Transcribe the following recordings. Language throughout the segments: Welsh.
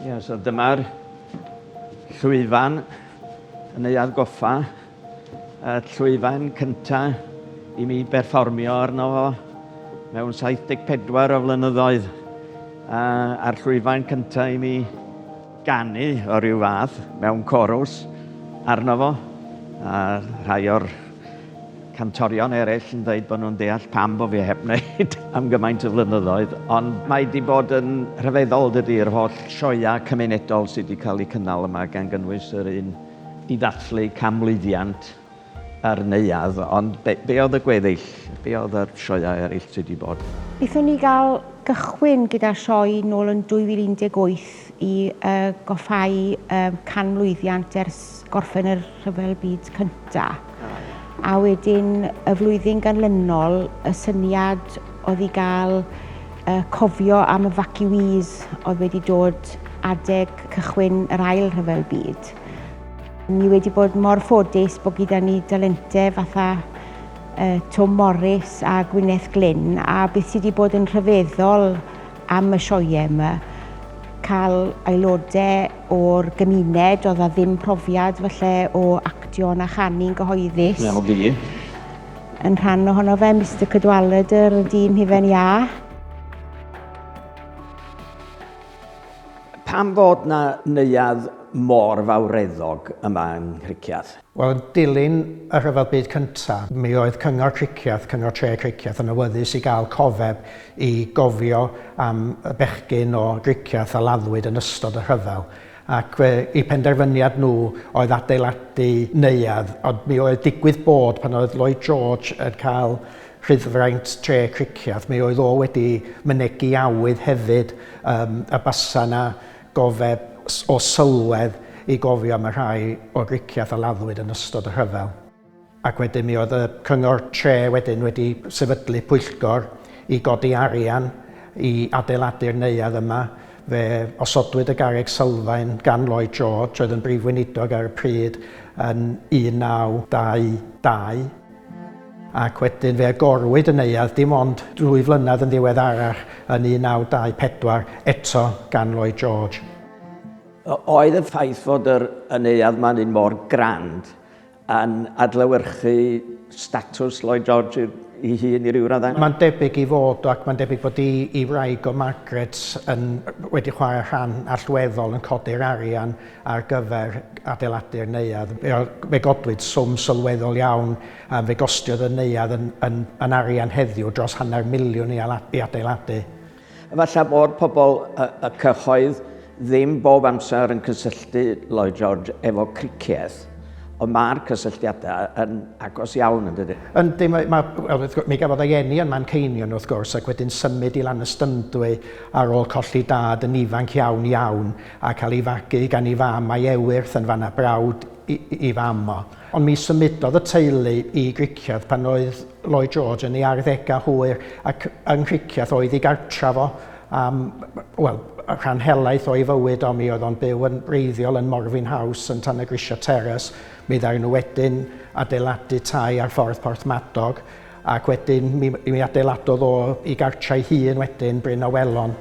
Ie, so dyma'r llwyfan yn ei adgoffa. Y llwyfan cynta i mi berfformio arno fo mewn 74 o flynyddoedd. A, a'r llwyfan cynta i mi ganu o ryw fath mewn corws arno fo. A rhai o'r cantorion eraill yn dweud bod nhw'n deall pam bod fi heb wneud am gymaint o flynyddoedd, ond mae wedi bod yn rhyfeddol dydy, yr holl sioeau cymunedol sydd wedi cael eu cynnal yma, gan gynnwys yr un i ddathlu canmlwyddiant yr neuadd, ond be, be oedd y gweddill, be oedd yr sioeau eraill sydd wedi bod? Wnaethon ni gael cychwyn gyda'r sioe nôl yn 2018 i yy goffáu yy canmlwyddiant ers gorffen yr Rhyfel Byd Cyntaf. A wedyn y flwyddyn ganlynol, y syniad oedd i gael uh, cofio am evacuees oedd wedi dod adeg cychwyn yr ail rhyfel byd. Ni wedi bod mor ffodus bod gyda ni dalentau fatha uh, Tom Morris a Gwyneth Glyn a beth sydd wedi bod yn rhyfeddol am y sioe yma, cael aelodau o'r gymuned, oedd a ddim profiad falle o actio na chanu'n gyhoeddus. Wel fi. Yn rhan ohono fe, Mr Cadwaladr, y dyn hufen iâ. Pam fod na neuadd mor fawreddog yma yng Nghricieth? Wel, yn dilyn y Rhyfel Byd Cyntaf, mi oedd Cyngor Cricieth, Cyngor Tre Cricieth, yn awyddus i gael cofeb i gofio am y bechgyn o Gricieth a laddwyd yn ystod y rhyfel. Ac fe, eu penderfyniad nhw oedd adeiladu neuadd, ond mi oedd digwydd bod pan oedd Lloyd George yn cael rhyddfraint Tre Cricieth, mi oedd o wedi mynegi awydd hefyd yym y basa 'na Gofeb o sylwedd i gofio am y rhai o'r Rikiath a laddwyd yn ystod y rhyfel. Ac wedyn mi oedd y cyngor tre wedyn wedi sefydlu pwyllgor i godi arian i adeiladu'r neuadd yma. Fe osodwyd y garreg sylfaen gan Lloyd George oedd yn brif weinidog ar y pryd yn 1922. ac wedyn fe agorwyd y neuadd dim ond ddwy flynedd yn ddiweddarach yn 1924 eto gan Lloyd George. Oedd y ffaith fod yr y neuadd man hyn mor grand yn adlewyrchu statws Lloyd George i hun i ryw raddau? Mae'n debyg i fod ac mae'n debyg bod i i wraig o Margaret yn wedi chwarae rhan allweddol yn codi'r arian. ar gyfer adeiladu'r neuadd. Fe godwyd swm sylweddol iawn, fe gostiodd y neuadd yn arian heddiw dros hanner miliwn i adeiladu. Efallai fod pobl y cyhoedd ddim bob amser yn cysylltu Lloyd George efo cricieth, ond mae'r cysylltiadau yn agos iawn, yn dydyn? Yndi, mi gafodd ei eni yn Manceinion wrth gwrs ac wedyn symud i Lanystymdwy ar ôl colli dad yn ifanc iawn iawn. a cael ei fagu gan ei fam a'i ewyrth yn fan a brawd ei fam o. Ond mi symudodd y teulu i Gricieth pan oedd Lloyd George yn ei arddegau hwyr ac yng Nghricieth oedd ei gartref o am, wel, rhan helaeth o'i fywyd o. Mi oedd o'n byw yn wreiddiol yn Morfyn House yn Tan-y-grisiau Terrace. Mi ddaru nhw wedyn adeiladu tai ar Ffordd Porthmadog. Ac wedyn mi, mi adeiladodd o i gartrau hun wedyn, Bryn Awelon,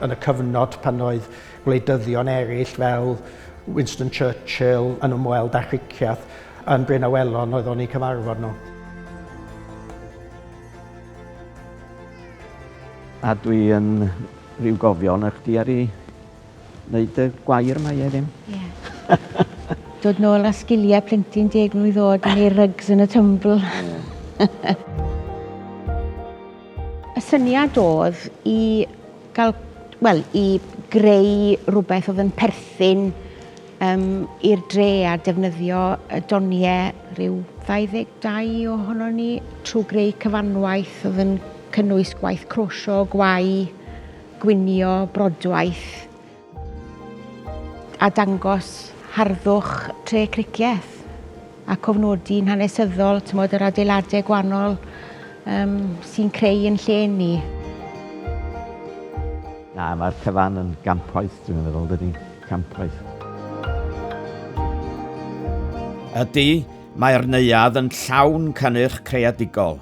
yn y cyfnod pan oedd gwleidyddion eraill fel Winston Churchill yn ymweld â Chriciath yn Bryn Awelon oedd o'n ei cyfarfod nhw. A dwi yn rhyw gofion a chdi ar ei Wneud y gwair mae e ddim. Yeah. Dod nôl a sgiliau plentyn deg mlwydd oed yn ei rugs yn y tumbl. y syniad oedd i gael, wel, i greu rhywbeth oedd yn perthyn um, i'r dre a defnyddio y doniau rhyw 22 ohono ni trwy greu cyfanwaith oedd yn cynnwys gwaith crosio, gwau, gwnïo brodwaith a dangos harddwch tre cricieth a cofnodi'n hanesyddol tymod, yr adeiladau gwannol um, sy'n creu yn lle ni. Na, mae'r cyfan yn gampwaith, dwi'n meddwl, dydy, campwaith. Ydy, mae'r neuadd yn llawn cynnyrch creadigol.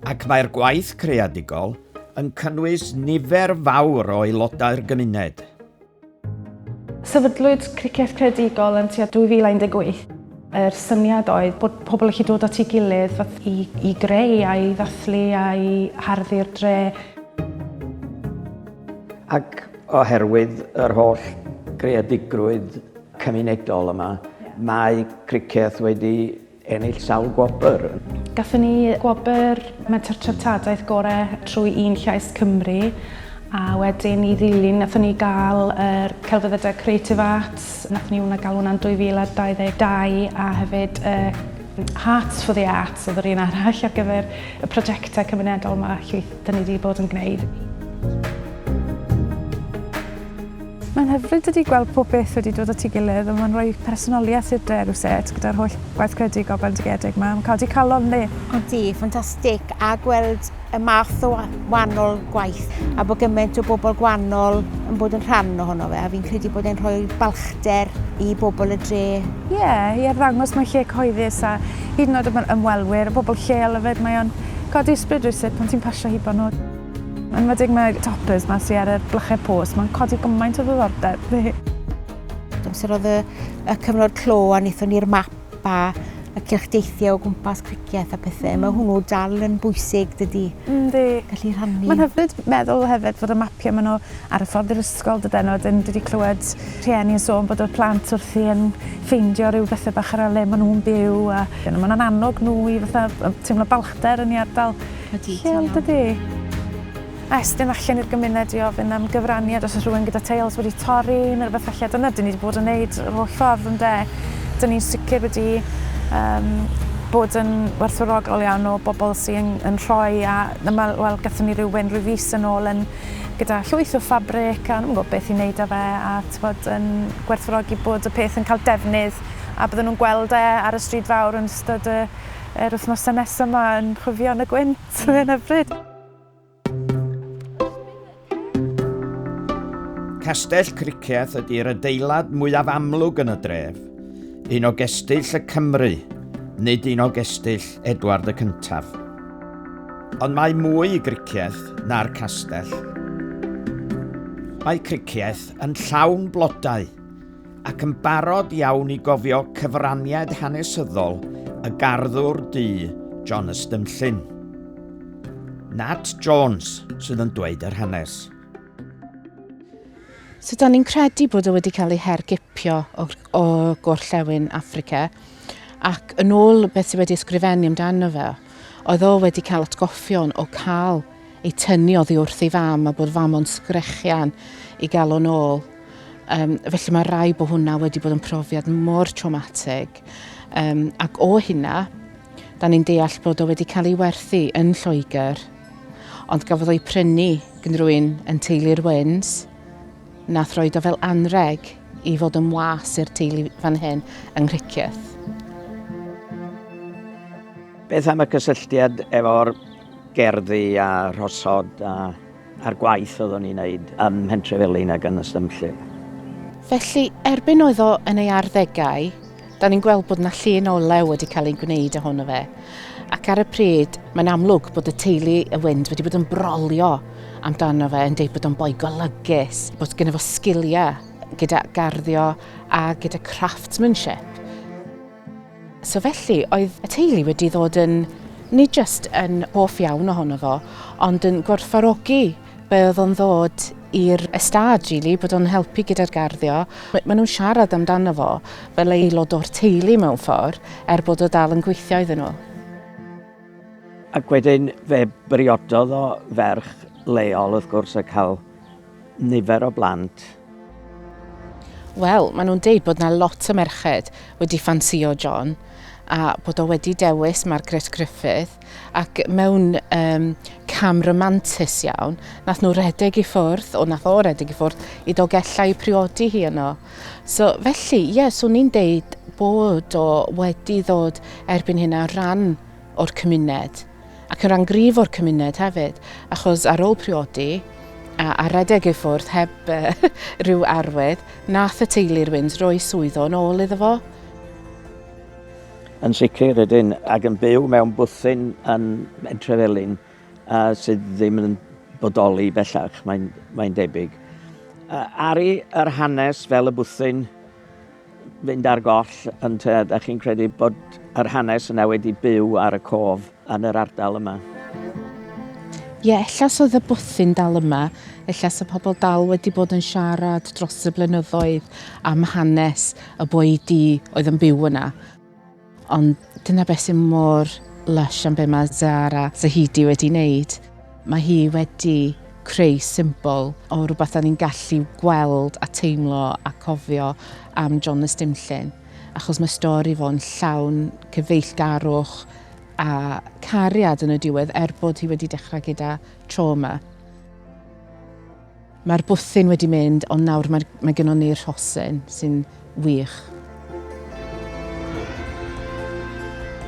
Ac mae'r gwaith creadigol yn cynnwys nifer fawr o aelodau'r gymuned. Sefydlwyd Criced Creadigol yn tua 2018. Yr syniad oedd bod pobl yn gallu dod at ei gilydd i, i greu a'i ddathlu a'i harddu'r dre. Ac oherwydd yr holl greadigrwydd cymunedol yma, mae Criced wedi Ennill sawl gwobr. Gathon ni gwobr Menter Treftadaeth Gore trwy Un Llais Cymru a wedyn i ddilyn nathon ni gael yr Celfyddydau Creative Arts, nathon ni hwnna gael hwnna'n 2022 a hefyd y Hearts for the Arts oedd yr un arall ar gyfer y prosiectau cymunedol mae llwyth 'da ni wedi bod yn gwneud. Mae'n hyfryd ydi gweld pob peth wedi dod at ei gilydd a mae'n rhoi personoliaeth i'r dre rywsut gyda'r holl waith credu gofal bendigedig ma. Mae'n codi calon yndi? Yndi, ffantastig a gweld y math o wanol gwaith a bod gymaint o bobl gwanol yn bod yn rhan ohono fe a fi'n credu bod e'n rhoi balchder i bobl y dre. Ie, i arddangos mae lle cyhoeddus a hyd yn oed am yr ymwelwyr a bobl lleol efyd mae o'n codi ysbryd rywsut pan ti'n pasio hibo nhw. Enwedig mae'r toppers ma sy ar y blychau post, mae'n codi gymaint o ddiddordeb fi. Amser oedd y, y cyfnod clo a wnaethon ni'r map a y cylch deithiau o gwmpas cricieth a pethau. Mm. Mae hwnnw dal yn bwysig dydy. Yndi. Gallu rhannu. Mae'n hyfryd meddwl hefyd fod y mapiau maen nhw ar y ffordd i'r ysgol dydyn nhw. Wedyn dwi wedi clywed rhieni yn sôn bod y plant wrthi yn ffeindio rhyw bethau bach ar le maen nhw'n byw. A... Mae'n annog nhw i fatha teimlo balchder yn ei ardal. Ydy, ti'n iawn. Chill dydi? A estyn allan i'r gymuned i ofyn am gyfraniad os oes rhywun gyda teils wedi torri neu rhywbeth felly. Dyna dyn ni wedi bod yn neud yr holl ffordd ynde. Dyn ni'n sicr wedi um, bod yn werthfawrogol iawn o bobl sy'n yn rhoi a dyma, wel, gatho ni rhywun rhyw fus yn ôl yn gyda llwyth o ffabric a nhw'n gwybod beth i wneud â fe a tybod yn gwerthfawrogi bod y peth yn cael defnydd a bydden nhw'n gweld e ar y stryd fawr yn ystod y Yr wythnosau nesaf yma yn chwifio yn y gwynt ar hyn o bryd. Castell Cricieth ydy'r adeilad mwyaf amlwg yn y dref, un o gestyll y Cymry, nid un o gestyll Edward y Cyntaf. Ond mae mwy i Gricieth na'r castell. Mae Cricieth yn llawn blodau, ac yn barod iawn i gofio cyfraniad hanesyddol y garddwr du John Ystymllyn. Nat Jones sydd yn dweud yr hanes. So, da ni'n credu bod o wedi cael ei hergipio o, o gorllewin Africa ac yn ôl beth sydd wedi ysgrifennu amdano fe, oedd o wedi cael atgoffion o cael ei tynnu oddi wrth ei fam a bod fam o'n sgrechian i gael o'n ôl. Um, felly mae rai bod hwnna wedi bod yn profiad mor traumatig. Um, ac o hynna, da ni'n deall bod o wedi cael ei werthu yn Lloegr. Ond gafodd o'i prynu gynrwy'n yn teulu'r Wyns, na throed o fel anreg i fod yn was i'r teulu fan hyn yng Nghricieth. Beth am y cysylltiad efo'r gerddi a rhosod a a'r gwaith oeddwn i'n neud ym Mhentrefelin ag yn Ystumllyn. Felly, erbyn oedd o yn ei arddegau, da ni'n gweld bod yna llun o lew wedi cael ei gwneud ohono fe. Ac ar y pryd, mae'n amlwg bod y teulu y Wynd wedi bod yn brolio amdano fe, yn deud bod o'n boi golygus, bod gyda fo sgiliau gyda garddio a gyda craftsmanship. So felly, oedd y teulu wedi ddod yn, nid jyst yn hoff iawn ohono fo, ond yn gwerthfarogi be oedd o'n ddod i'r ystad, really, bod o'n helpu gyda'r garddio. Maen nhw'n siarad amdano fo fel aelod o'r teulu mewn ffordd, er bod o dal yn gweithio iddyn nhw. Ac wedyn fe briododd o ferch leol, wrth gwrs, a cael nifer o blant. Wel, maen nhw'n deud bod yna lot o merched wedi ffansio John a bod o wedi dewis Margaret Griffith ac mewn um, cam romantus iawn, nath nhw redeg i ffwrdd, o nath o redeg i ffwrdd, i dogellau priodi hi yno. So, felly, ie, yeah, swn i'n deud bod o wedi ddod erbyn hynna rhan o'r cymuned. ac yn rhan gryf o'r cymuned hefyd, achos ar ôl priodi a, a redeg ei ffwrdd heb rhyw arwydd, nath y teulu'r Wynns roi swydd o'n ôl iddo fo. Yn sicr ydyn, ac yn byw mewn bwthyn yn Entrefelin a sydd ddim yn bodoli bellach, mae'n mae debyg. Ari yr hanes fel y bwthyn fynd ar goll, ond yy 'dach chi'n credu bod yr hanes yna wedi byw ar y cof yn yr ardal yma? Ie, ella 's oedd y bwthyn dal yma, ella 's y pobl dal wedi bod yn siarad dros y blynyddoedd am hanes y boi du oedd yn byw yna. Ond dyna beth sy'n mor lush am be mae Zara Zahidi wedi wneud. Mae hi wedi creu symbol o rhywbeth da ni'n gallu gweld a teimlo a cofio am John y Stumllyn. Achos mae stori fo'n llawn cyfeillgarwch a cariad yn y diwedd er bod hi wedi dechrau gyda trauma. Mae'r bwthyn wedi mynd ond nawr mae, mae gennon ni'r rhosyn sy'n wych.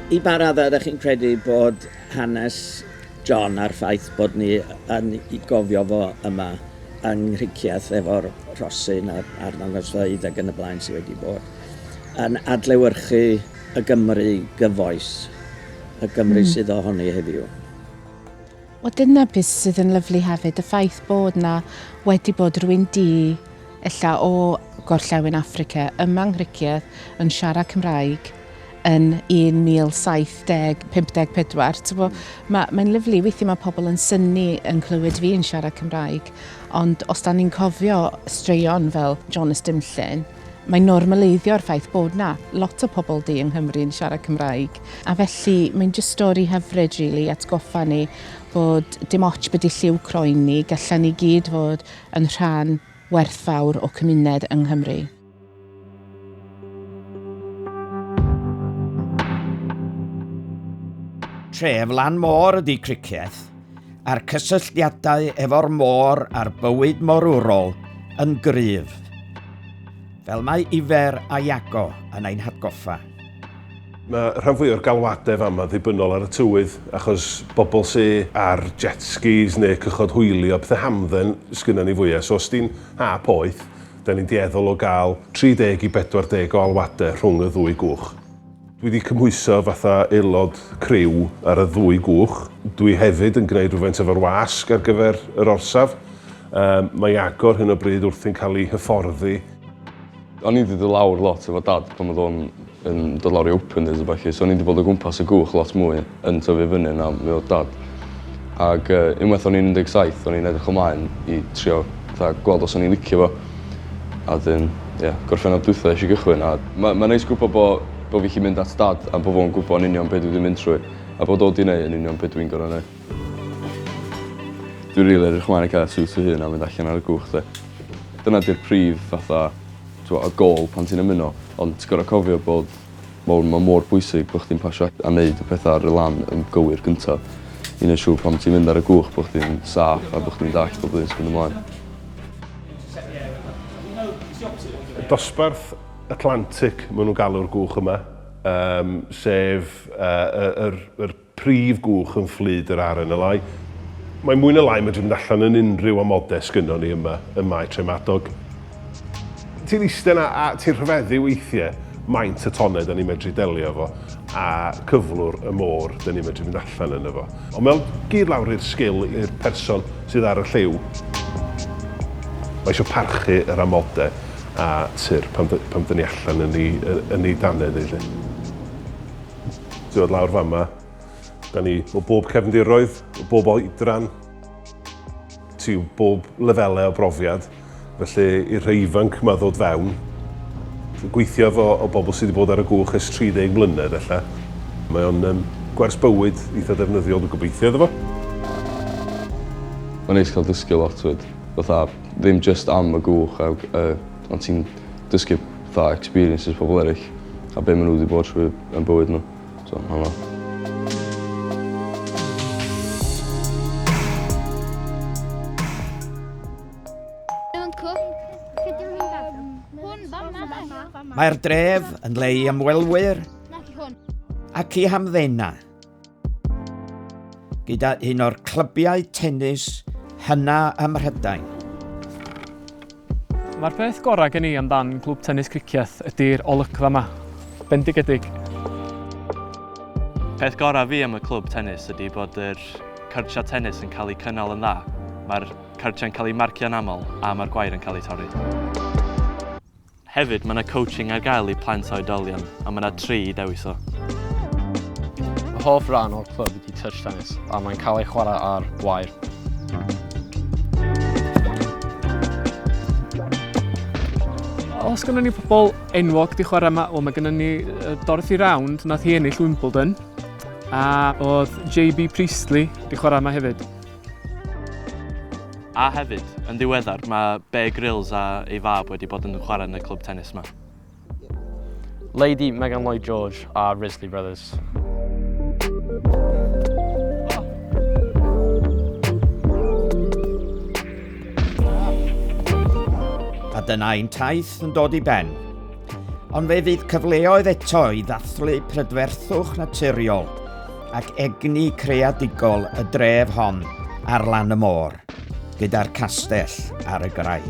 I ba raddau ydych chi'n credu bod hanes John a'r ffaith bod ni yn ei gofio fo yma yng Nghricieth efo'r rhosyn a'r, a'r ddangosfeydd ac yn y blaen sydd wedi bod yn adlewyrchu y Gymru gyfoes, y Gymru mm. sydd ohoni heddiw? Wel dyna beth sydd yn lyflu hefyd, y ffaith bod na wedi bod rwy'n di ella o gorllewin Affrica yma yng Nghricieth yn siarad Cymraeg yn 1750, 54. Ti'n gwybod, ma, mae'n lyflu, weithiau mae pobl yn syni yn clywed fi yn siarad Cymraeg, ond os da ni'n cofio straeon fel Jonas Dimllyn, Mae'n normaleiddio'r ffaith bod 'na lot o pobl du yng Nghymru yn siarad Cymraeg, a felly mae'n jyst stori hyfryd rili, atgoffa ni bod dim ots be 'di lliw croen ni, gallan ni gyd fod yn rhan werthfawr o cymuned yng Nghymru. Tref lan môr ydi Cricieth. a'r cysylltiadau efo'r môr a'r bywyd morwrol yn gryf, fel mae Ifer a Iago yn ein hatgoffa. Mae rhan fwyaf o'r galwadau fama ddibynnol ar y tywydd, achos bobl sy ar jet skis neu cychod hwylio, pethau hamdden sgynnon ni fwyaf. So os di'n ha poeth, 'da ni'n dueddol o gael 30 i 40 o alwadau rhwng y ddwy gwch. Dwi wedi cymhwyso fatha aelod criw ar y ddwy gwch. Dwi hefyd yn gwneud rhywfaint efo'r wasg ar gyfer yr orsaf. Yym, mae i agor hyn o bryd wrthi'n cael ei hyfforddi. O'n i 'di dod lawr lot efo Dad pan o'dd o'n yn dod lawr i open days a ballu so o'n i 'di bod o gwmpas y gwch lot mwy. yn tyfu fyny yna mi odd dad ag yy unwaith o'n i'n un deg saith o'n i'n edrych ymlaen i trio fatha gweld os o'n i'n licio fo a 'dyn ie Gorffennaf dwitha esh i gychwyn a ma' ma'n neis gwbo bo' bo' fi 'llu mynd at dad a bo' fo'n gwbo yn union be' dwi 'di mynd trwy a bod o 'di neu' yn union be' dwi'n gor'o' neu'. Dwi rili edrych mlaen i ca'l siwt fy hun a mynd allan ar y cwch 'de. Dyna 'di'r prif fatha t'mo' y gôl pan ti'n ymuno ond ti gor'o' cofio bod Wel ma' mor bwysig bo' chdi'n pasio a neud y petha ar y lan yn gywir gynta i neu' siŵr pan ti'n mynd ar y gwch bo' chdi'n saff a bo' chdi'n dallt bob yn myn' ymlaen. Dosbarth Atlantic ma' nw'n galw'r gwch yma yym sef yy y yr yr prif gwch yn fflyd yr RNLI. Mae mwy na lai yn medru mynd allan yn unrhyw amodau sgynnon ni yma ym Mae Tref Madog. Ti'n iste 'na a ti'n rhyfeddu weithie maint y tonnau 'da ni'n medru delio efo a cyflwr y môr 'da ni'n medru mynd allan yno fo. Ond mae o'n gyd lawr i'r sgil i'r person sydd ar y lliw. Mae isio parchu yr amodau a tur pan pan 'da ni allan yn 'i yn 'i dannedd 'i 'lly. Ti'n dod lawr fan yma. Da ni o bob cefndiroedd, o bob oedran, ti o bob lefelau o brofiad. Felly i'r rhai ifanc yma ddod fewn, gweithio efo o bobl sydd wedi bod ar y gwch ers 30 mlynedd ella. Mae o'n um, gwers bywyd eitha defnyddiol, dwi'n gobeithio iddo fo. Mae'n neis cael dysgu lot fyd. Fatha, ddim just am y gwch a uh, Ond ti'n dysgu fatha experiences pobol eryll a be' ma' n'w 'di bod trwy yn bywyd n'w so ma'n anodd. Mae'r dref yn le i ymwelwyr ac i hamddenau gyda un o'r clybiau tennis hynna ym Mhrydain. Mae'r peth gorau gen i amdan Clwb Tennis Cricieth ydy'r olygfa yma. Bendigedig. Peth gorau fi am y clwb tennis ydy bod yr cyrtiau tennis yn cael eu cynnal yn dda. Mae'r cyrtiau'n cael eu marcio'n aml a mae'r gwair yn cael eu torri. Hefyd, mae yna coaching ar gael i plant a oedolion, a mae yna tri i dewis o. Fy hoff ran o'r clwb ydy touch tennis, a mae'n cael ei chwarae ar wair. Os gynnon ni pobl enwog di chwarae yma, wel mae gynnon ni Dorothy Round, nath hi ennill Wimbledon, a oedd JB Priestley di chwarae yma hefyd. A hefyd, yn ddiweddar, mae Bear Grylls a ei fab wedi bod yn chwarae yn y clwb tennis yma. Lady Megan Lloyd George a Risley Brothers. A dyna ein taith yn dod i ben. Ond fe fydd cyfleoedd eto i ddathlu prydferthwch naturiol ac egni creadigol y dref hon ar lan y môr, gyda'r castell ar y graig.